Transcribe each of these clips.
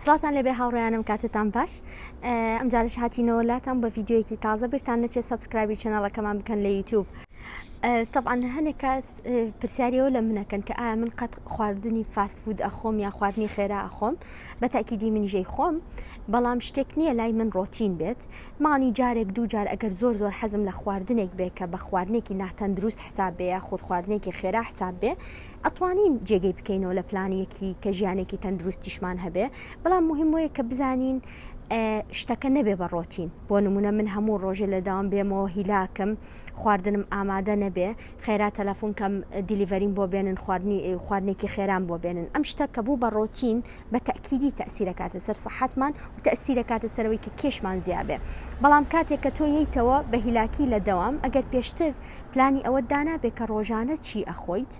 سڵاتان لەبێ هاوڕیانم کاتتان باش ئەم جارش هاتینەوە لاتان بە ڤیددیوەکی تازە بیرتان نەچێ سبسکرایبی چنەڵەکەمان بکەن لە یوتوب. طبعاان هەنێک کاس پرسیاریەوە لە منەکەن کە ئایا من قەت خواردنی فاست فود ئەخۆم یا خواردنی خێرا ئەخۆم بە تاکیدی منیژەی خۆم بەڵام شتێک نییە لای من ڕۆتین بێت مانی جارێک دوو جار ئەگەر زۆر زۆر حەزم لە خواردنێک بێ کە بە خواردنێکی ناتەندروست حساب بێ یا خود خواردنێکی خێرا حساب بێ ئەتوانین جێگەی بکەینەوە لە پلانیەکی کە ژیانێکی تەندروستیشمان هەبێ بەڵام مهم وەیە کە بزانین شتەکە نەبێ بە ڕۆتین بۆ نمونە من هەموو ڕۆژێ لە داوام بێمەوە هیلاکم خواردنم ئامادە نەبێ خێرا تەلەفۆن کەم دیلیڤەریم بۆ بێنن خواردنی خواردنێکی خێران بۆ بێنن ئەم شتە کە بوو بە ڕۆتین بە تەکیدی تەسیرەکاتە سەر سەحەتمان و تەسیرەکاتە سەرەوەی کە کێشمان زیابێ بەڵام کاتێک کە تۆ یتەوە بە هیلاکی لە دەوام ئەگەر پێشتر پلانی ئەوەت دانابێ کە ڕۆژانە چی ئەخۆیت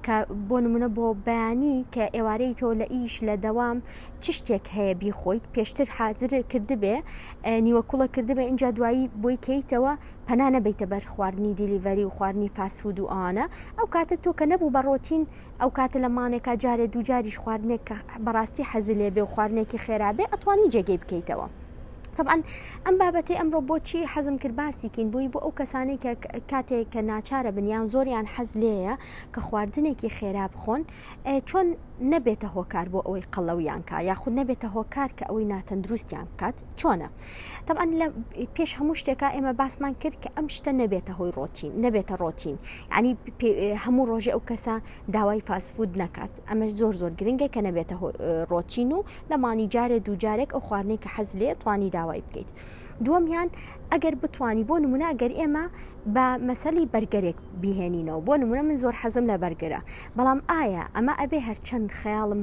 کە بۆ نمونە بۆ بەیانی کە ئێوارەی تۆ لە ئیش لە دەوام چ شتێک هەیە بیخۆیت پێشتر حازر کردبێ نیوە کوڵە کردبێ اینجا دوایی بۆی کەیتەوە پەنا نەبیتە بەر خواردنی دیلیڤەری و خواردنی فاسفود و ئەوانە ئەو کاتە تۆ کە نەبوو بە ڕۆتین ئەو کاتە لە مانێکا جارێ دووجاریش خواردنێک کە بەڕاستی حەزلێ بێ و خواردنێکی خێرابێ ئەتوانی جێگەی بکەیتەوە. تەبعەن ئەم بابەتەی ئەمڕۆ بۆچی حەزم کرد باسیکین بووی بۆ ئەو کەسانی کە کاتێک کە ناچارە بنیان زۆریان حەز لێیە کە خواردنێکی خێرا بخۆن چۆن نەبێتە هۆکار بۆ ئەوەی قەڵەویان کا یاخود نەبێتە هۆکار کە ئەوەی ناتەندروستیان بکات چۆنە تەعاان لە پێش هەموو شتێکە ئێمە باسمان کرد کە ئەم شتە نەبێتە هۆی ڕۆتین نەبێتە ڕۆتین ینی هەموو ڕۆژێ ئەو کەسە داوای فاسفود نەکات ئەمەش زۆر زۆر گرنگە کە نەبێتە هۆ ڕۆتین و لە مانی جارێ دوو جارێک ئەو خواردنەی کە حەز لێ توانی داوای بکەیت دووەمیان ئەگەر بتانی بۆ نمونە ئەگەر ئێمە بە مەسەلی بەرگەرێک بهێنینەوە بۆ نمونە من زۆر حەزم لە بەرگرە بەڵام ئایا ئەمە ئەبێ هەرچەند خەیاڵم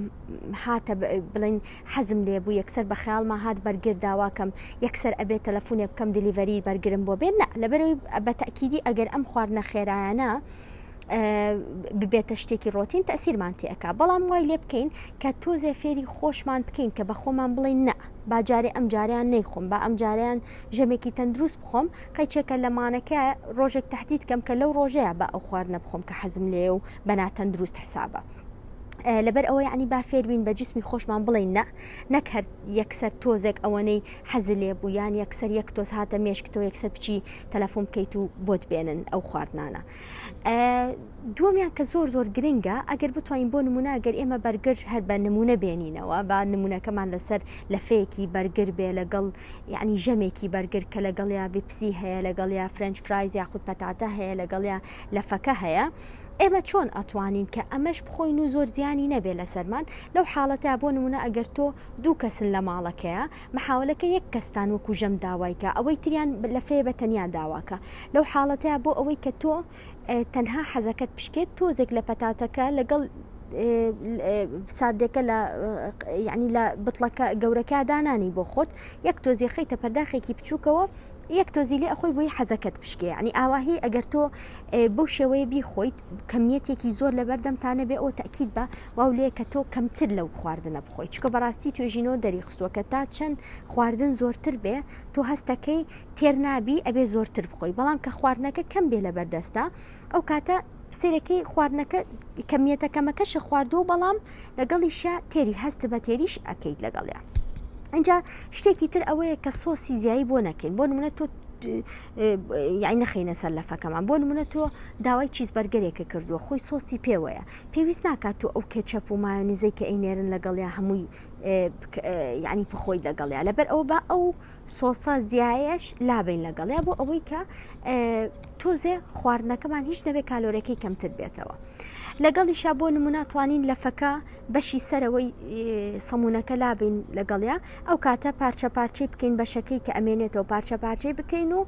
هاتە بڵین حەزم لێ بوو یەکسەر بە خەیاڵما هات بەرگر داواکەم یەکسەر ئەبێت تەلەفۆنێ بکەم دلیڤەری بەرگرم بۆ بێن لەبەرەوەی بە تاکیدی ئەگەر ئەم خواردنە خێرایانە ببێتە شتێکی ڕۆتین تەسیرمان تێکا بەڵام وای لێ بکەین کە تۆزێ فێری خۆشمان بکەین کە بە خۆمان بڵین نە باجارێ ئەم جاریان نەیخۆم بە ئەم جاریان ژەمێکی تەندروست بخۆم قەیچێکە لەمانەکە ڕۆژێک تهدید کەم کە لەو ڕۆژەیە بە ئەو خواردنە بخۆم کە حەزم لێ و بەناتەندروست حسابە. لەبەر ئەوە یعنی با فێربین بە جسمی خۆشمان بڵین نە نەک هەر یەکسەر تۆزێک ئەوەنەی حەز لێ بوو یان یەکسەر یەک تۆز هاتە مێشکتەوە یەکسەر بچی تەلەفۆن بکەیت و بۆت بێنن ئەو خواردنانە دووەمیان کە زۆر زۆر گرنگە ئەگەر بتوانین بۆ نمونە گەر ئێمە بەرگر هەر بە نمونە بێنینەوە با نمونونەکەمان لەسەر لەفەیەکی بەرگر بێ لەگەڵ یعنی ژەمێکی بەرگر کە لەگەڵ یا بپسی هەیە لەگەڵ یا فرەنج فرایز یاخود پەتاتە هەیە لەگەڵ یا لەفەکە هەیە ئێمە چۆن ئەتوانین کە ئەمەش بخۆین و زۆر زیانی نەبێ لەسەرمان لەو حاڵەتە بۆ نمونە ئەگەر تۆ دوو کەسن لە ماڵەکەیە محاولە کە یەک کەستان وەکو ژەم داوای کە ئەوەی تریان لە فێ بە تەنیا داوا کە لەو حاڵەتەیا بۆ ئەوەی کە تۆ تەنها حەزەکەت پشکێت تۆزێک لە پەتاتەکە لەگەڵ ساردێکە لە یعنی لە بتڵەکە گەورەکە دانانی بۆ خۆت یەک تۆزی خەیتە پەرداخێکی بچووکەوە یەک تۆزی لێ ئەخۆی بۆی حەزەکەت پشکێ ینی ئاواهی ئەگەر تۆ بەو شێوەیە بیخۆیت کەمیەتێکی زۆر لە بەردەمتانە بێ ئەو تاکیید بە واو لێ کە تۆ کەمتر لەو خواردنە بخۆی چونکە بەڕاستی توێژینەوە دەریخستووە کە تا چەند خواردن زۆرتر بێ تۆ هەستەکەی تێر نابی ئەبێ زۆرتر بخۆی بەڵام کە خواردنەکە کەم بێ لە بەردەستە ئەو کاتە سێرەکەی خواردنەکە کەمیەتە کەمەکەشە خواردووە بەڵام لەگەڵیشە تێری هەست بە تێریش ئەکەیت لەگەڵیان ئەجا شتێکی تر ئەوەیە کە سۆسی زیایی بۆ نەکەین بۆ منە تۆ یعنی نەخینە سەر لەفەکەمان بۆ منە تۆ داوای چیز بەرگەرێکە کردووە خۆی سۆسی پێوەیە پێویست ناکات تۆ ئەو کێچەپ و مایۆنیزەی کە ئەینێرن لەگەڵیا هەمووی یعنی بخۆی لەگەڵیا لەبەر ئەوە بە ئەو سۆسە زیایش لابین لەگەڵیا بۆ ئەوەی کە تۆزێ خواردنەکەمان هیچ نەبێ کالۆرەکەی کەمتر بێتەوە. لەگەڵیشا بۆ نموناتوانین لەفەکە بەشی سەرەوەی سەمونونەکە لابین لەگەڵیا ئەو کاتە پارچە پارچەی بکەین بەشەکەی کە ئەمێنێتەوە پارچە پارچەی بکەین و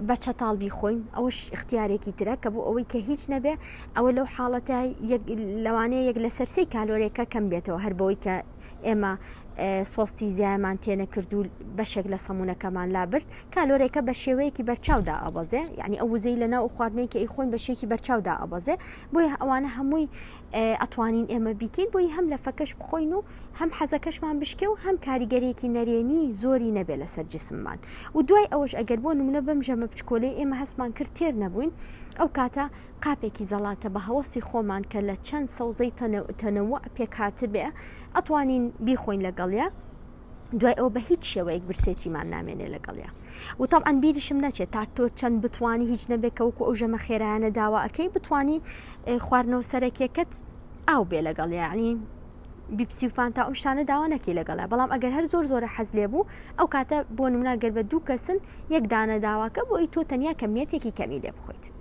بە چەتاڵ بیخۆین ئەوش اختیارێکی ترە کە بۆ ئەوەی کە هیچ نەبێ ئەوە لەو حاڵەتە یەک لەوانەیە یەک لەسەر سێی کالۆریەکە کەم بێتەوە هەر بەوەی کە ئێمە سۆستی زیایمان تێنەکرد و بەشێک لە سەمونونەکەمان لابرد کالۆرێکە بە شێوەیەکی بەرچاودا ئابەزێ یعنی ئەو وزەی لە ناو خواردنەی کە ئیخۆین بە شێکی بەرچاودا ئابەزێ بۆیە ئەوانە هەمووی ئەتوانین ئێمە بیکەین بۆی هەم لە فەکەش بخۆین و هەم حەزەکەشمان بشکێ و هەم کاریگەرێکی نەرێنی زۆری نەبێ لەسەر جسممان و دوای ئەوەش ئەگەر بۆ نمونە بەم ژەمە بچکۆلەی ئێمە هەستمان کرد تێر نەبووین ئەو کاتە قاپێکی زەڵاتە بە هەوەسی خۆمان کە لە چەند سەوزەی تەنەوع پێکهاتبێ ئەتوانین بیخۆین لەگەڵە دوای ئەو بە هیچ شێوەیەک برسێتیمان نامێنێ لەگەڵە وتاب ئەن بیریشم نەچێت تا تۆ چەند بتانی هیچ نەبێت کەوەکو ئەو ژەمە خێرایانە داوا ئەەکەی بتانی خواردنەوە سەرەکیەکەت ئاو بێ لەگەڵ یعنی بیپسی و فانتا ئەم شانە داوا نەکی لەگەڵە بەڵام ئەگەر هەر زۆر زۆرە حەز لێ بوو ئەو کاتە بۆ نموناگەر بە دوو کەسن یەک دانە داواکە بۆی تۆ تەنیا کەمیەتێکی کەمی لێ بخۆیت